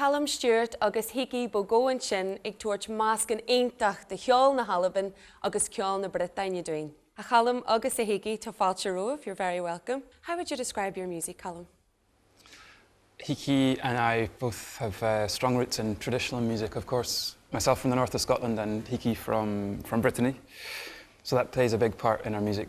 Callum Stewart agus Hickey Bo Go ansin ag tabhairt meascán iontach de cheol na hAlban agus ceol na Briotáine dúinn. A Chalum agus a Hickey, tá fáilte romhaibh, you're very welcome. How would you describe your music, Callum? Hickey and I both have strong roots in traditional music, of course, myself from the north of Scotland and Hickey from from Brittany, so that plays a big part in our music.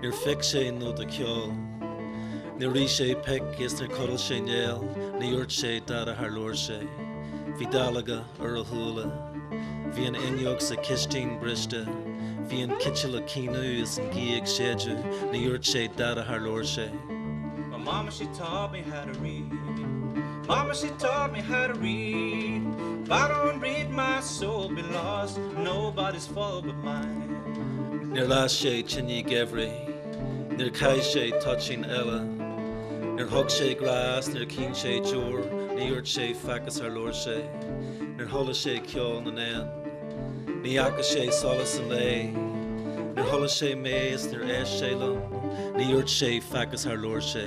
Níor phioc sé nóta ceoil. Níor ith sé pioc is níor chodail sé néal, ní dhúirt sé dada char labhair sé. Bhí dallóga ar a shúile. Bhí an fhuinneog sa chistin briste. Bhí an citeal ag caoineadh is an ghaoth ag séideadh, ní dhúirt sé dada char labhair sé. My mama, she taught me how to read. Mama, she taught me how to read. If I don't read, my soul be lost. Nobody's fault but mine. Níor las sé tine geimhridh. Níor chaith sé toitín eile. Níor thug sé glas. Níor chaoin sé deoir. Ní dhúirt sé faic is char labhair sé. Níor chuala sé ceol na n-éan. Ní fhaca sé solas an lae. Níor chuala sé mé is níor éist sé liom. Ní dhúirt sé faic is char labhair sé.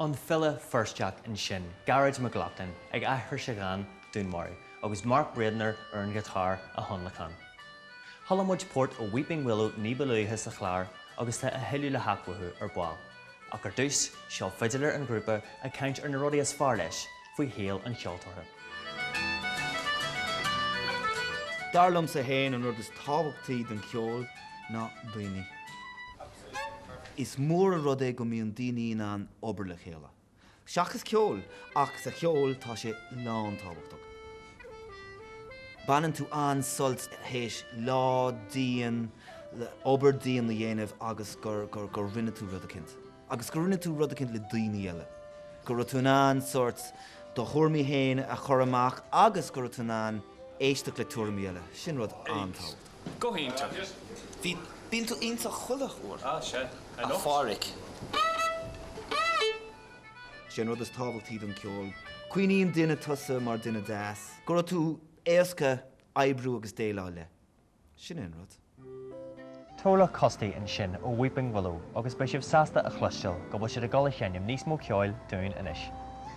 an file Feirsteach ansin, Gearóid Mac Lochlainn ag aithris a dhán 'Dúnmharú' agus Mark Braidner ar an ghiotár á thionlacan. Chuala muid port ó Weeping Willow ní ba luaithe sa chlár agus tá a thuilleadh le theacht uathu ar ball, ach ar dtús, seo fidiléir an ghrúpa ag caint ar na rudaí is fearr leis faoi shaol an cheoltóra. Dar liomsa féin, an rud is tábhachtaí don cheol ná daoine. Is mór an rud é go mbíonn daoine in ann obair le chéile, seachas ceoil, ach sa cheol tá sé lántábhachtach. Baineann tú an-sult théis lá dian, obair dian a dhéanamh agus gur rinne tú rud eicint, agus gur rinne tú rud eicint le daoine eile. Go raibh tú in ann sórt do thuairimí féin a chur amach agus go raibh tú in ann éisteacht le tuairimí eile, sin rud an-tábhachtach. Bíonn tú, Sé an rud is tábhachtaí don ceol, cuimhníonn duine tusa mar duine deas, go raibh tú éasca oibriú agus déileáil le. Sin é an rud. Tola Custy ansin ó Weeping Willow agus beidh sibh sásta a chloisteáil go bhfuil siad ag dul a sheinm níos mó ceoil dúinn anois.